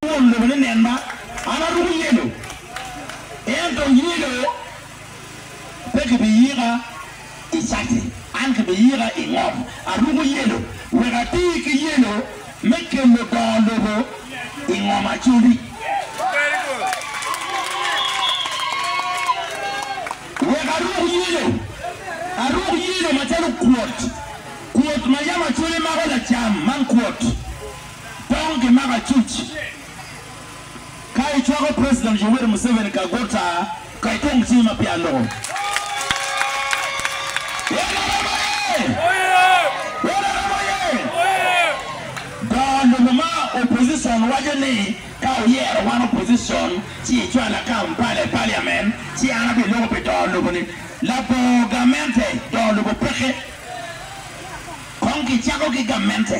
Won lobo ni nen ma an aruko yelo, ento yelo pe gibiyika i cati, an gibiyika i ngom. Aruko yelo wek ati ki yelo me kelo dongo lobo i ngom acoli. Wek aruk yelo, aruk yelo macalo kwot, kwot ma yam acoli mako lacam man kwot. tong gimako acuc ka icwako President Yoweri Museveni ka guta ka ikung cingi ma peya loko. Nrm oye! Nrm oye! Go lobo ma opposition waco ni ka oyero wan opposition ci icwala Kampala i Parliament ci an abi loko pi dongo lobo ni labongo gamente dongo lobo peke kong ki cako ki gamente.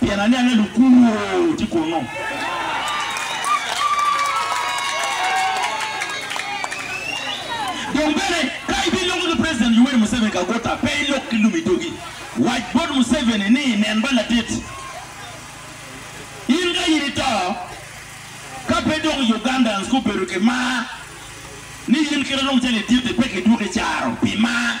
Pien aniang ni lukunwu tye kunnu. Dong bene, ka ibiloko ni President Yoweri Museveni ka guta, pe ilok ki lum i dogi. Wac bot Museveni ni, Nen ba latit, in ka in ito, ka pe dong Ugandans gubedo ki mar ni in kit alum cal itit-ti, pe kidwoki caro pi mar.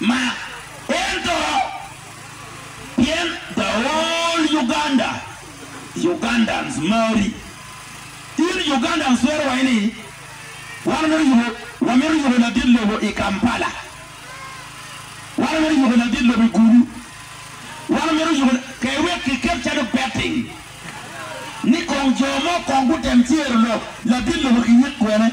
Mark ento pien the whole Uganda Ugandans mari in Ugandans twero waco ni wan wamito yubo wamito yubo ladit lobo i Kampala wan wamito yubo ladit lobo i Gulu wan wamito yubo kare wek kiket calo betting ni kong jo mo kong gutem cero lok ladit lobo kiyik kwene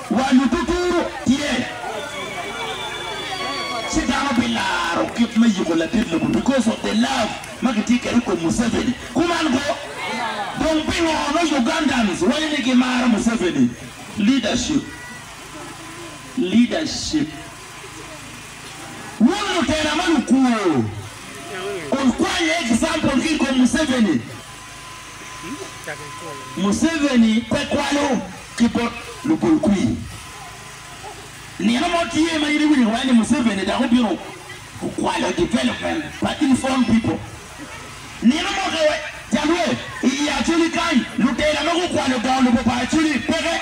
Wa luducu tye ci dano bilaro kit me yuko ladit lobo because of the love ma gitye kwede ikom Museveni. Kuman go, dong pingo nongo Ugandans waco ni gimaro Museveni? Leadership, leadership. Wun lutera ma lukwor, wukwany example ki ikom Museveni. Museveni pe kwalo ki bot lugolkwir. Nino mo tye ma in iwinyo iwaco ni Museveni dok obino kwalo development pa East Own People. Nino mo ka wa jalwe i Acholi kany, lutela ma gukwalo dongo lobo pa Acholi peke.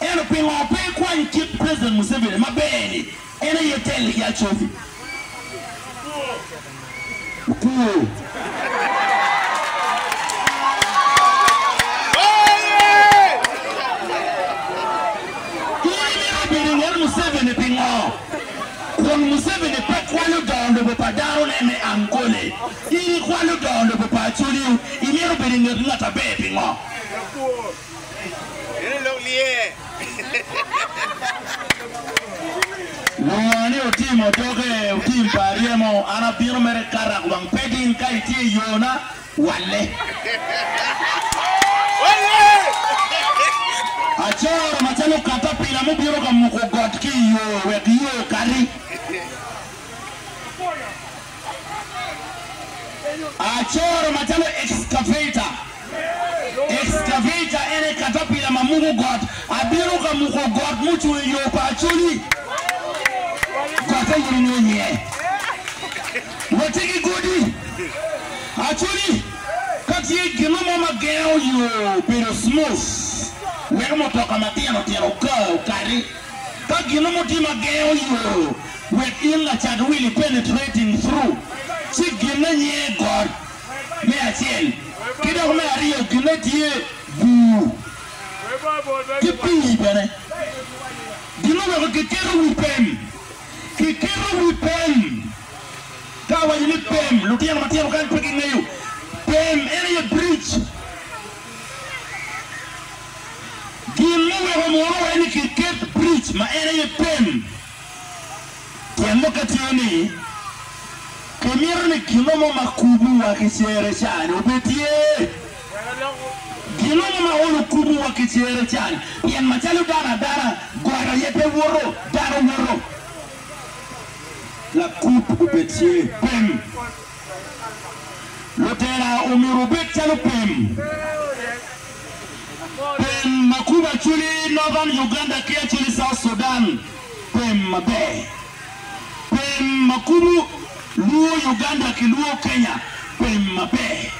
Ento pingo pe ikwanyo kit president Museveni maber ni en aye te liga cobi? In imito bedo inget Museveni pingo? Kun Museveni pe kwalo dongo lobo pa dano ne me angole, in ikwalo dongo lobo pa acholi o, imito bedo inget ngat aber pingo? Lunga ni otimo doge, otim pa aryemo, an abino mere kara kubang Pedin ka itye i yona, walle. Acoro macalo katapila mubino ka muko got ki i yo wek yo okati. Acoro macalo ekskaveta. Ekskaveta en aye katapila ma muko got. Abino ka muko got mucung i yo pa Acholi. Gotte in ingeyo iye. Watye ki godi. Acholi, ka tye gino mo ma gengo yo bedo smooth, weko mutoka matino tino okar, okati. Ka gino mo tye ma gengo yo wek in lacat wili penetrating through, ci ginne nye got me acel, ki dok me aryo ginne tye bur ki pii bene. Ginne weko kiketo wi pem. Kiketo wi pem. Ka awaco ni pem, lutino matino kany pe gingeyo. Pem en aye bridge. Gin ma weko mwono wai ni kiket bridge ma en aye pem tyen muke tye ni ki mito ni gino mo ma kubu wa ki cere cani obed tye. Gino mo ma olo kubu wa ki cere cani pien macalo dano adana got aye pe woto dano woto. Lakub obed tye pem. Lutera omyero obed calo pem. Pem ma kubo Acholi Northern Uganda ki Acholi South Sudan pem maber. Pem ma kubo Luo Uganda ki Luo Kenya pem maber.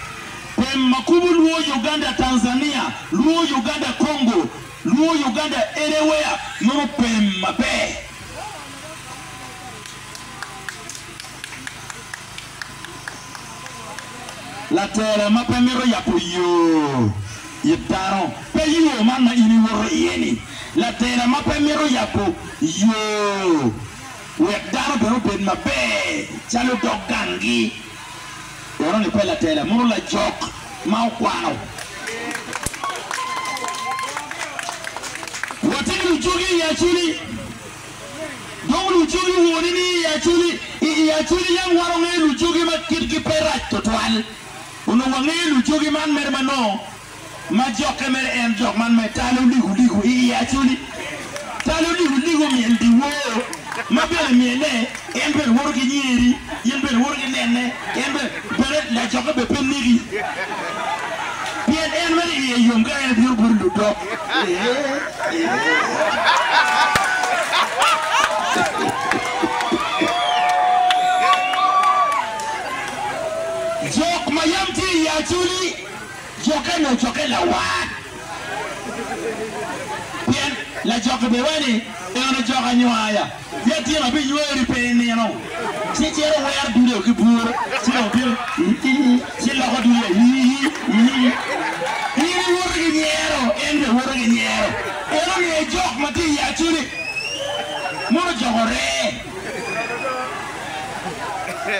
Pem ma kubo Luo Uganda Tanzania, Luo Uganda Congo, Luo Uganda anywhere mono pem maber. Latela ma pe mito yabo yo it dano pe yo man ma in iwoto iye-ni. Latela ma pe mito yabo yo wek dano bene obed maber calo dog ganggi, enoni pe latela, muno lajok ma okwano. Watye ki lujogi i Acoli. Dong lucogi wuni ni i acoli, i i acoli yam warongeyo lucogi ma kitgi pe rac twatwal. Onongo wangeyo lucogi man mere manongo ma jokke mere en jok man me talo ligo ligo i i acoli. Talo ligo ligo myel dyewor ma bene myele En bene woto ki nyeri, in bene iwoto ki nenne, en bene, bene lacokke bene pe neki, pien en mere iye yom ka en bino boti ludok. Jok ma yam tye i Acoli, jokke nongo cokke lawar, pien lacokke bene waco ni, En e jok anywaya. Litino biyweri pe i nino, ci ciro wero dude-o ki buru, ci dong tito i-i-i, ci loko dude i-i-i, i-i-i. In iwoto ki nyero, en bene woto ki nyero. En ongeyo jok ma tye i acu-ni, mono jok oree.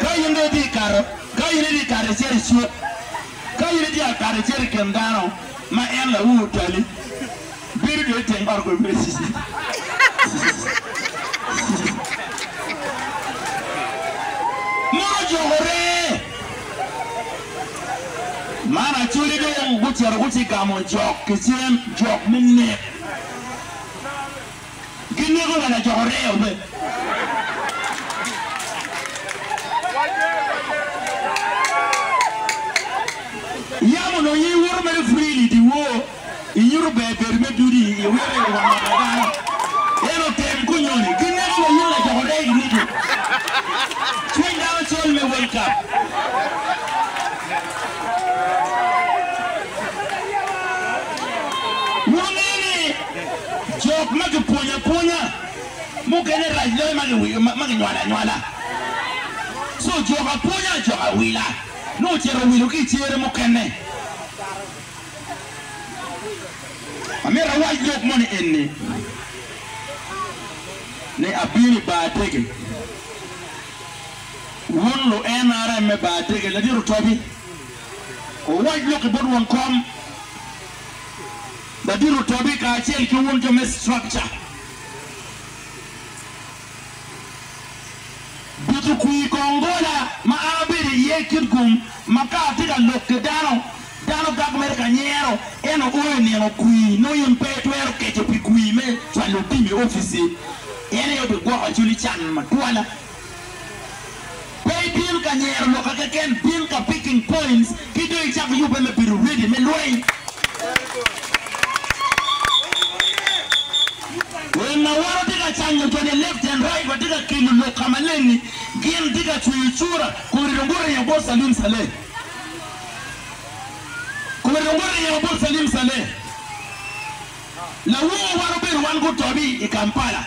Ka in dong itye ka kato, ka in itye ka kato icito i cuk, ka in itye ka kato icito i kin dano, ma en laur tali, Bedo dong i teng ot kweyo bute cici. Mon ojokore. Man Acholi dong gucito gucigamo jok ki cen jok me nek. Gineko wa lajoko reo be. Yam onongo in iwoto mere freely diwor. Inyuto ber bedo me duti i wiro i wang ot adano. En otem kunyoni gineko wa in lajoko rec Ruto. Cwiny dano col me World Cup. Wungeyo ni jok ma kipwonyo apwonya mukene rac loyo ma ki ma kinywalo anywala. Co jok apwonya jok awila nongo ocito owilo ki i cere mukene. Amyero awac lok moni eni, ni abino i bar dege. Wun lu NRM me bar dege, Ladit Otobi, wuwac lok-ki bot won kom. Ladit Otobi kacel ki wun jo me structure. Dutu kwir kong gola ma an abedo iye i kit gum ma ka atye ka lok ki dano, dano gak mere ka nyero, ento o i nino kwir nongo in pe itwero keco pi kwir me cwalo otim i opici, en aye obigwoko cwinyi can matwal. Pe ibino ka nyero loka keken, bin ka picking points ki dong icak yubbe me bedo ready me lweny. Wun ma wun wutye ka canyo joni left and right, watye ka kelo lok ka maleng-ngi, gin tye ka cweyo cura, kong ringo guringo bot Salim Saleh. Kong ringo guringo bot Salim Saleh. Lawowa wano bedo wan gutobi i Kampala,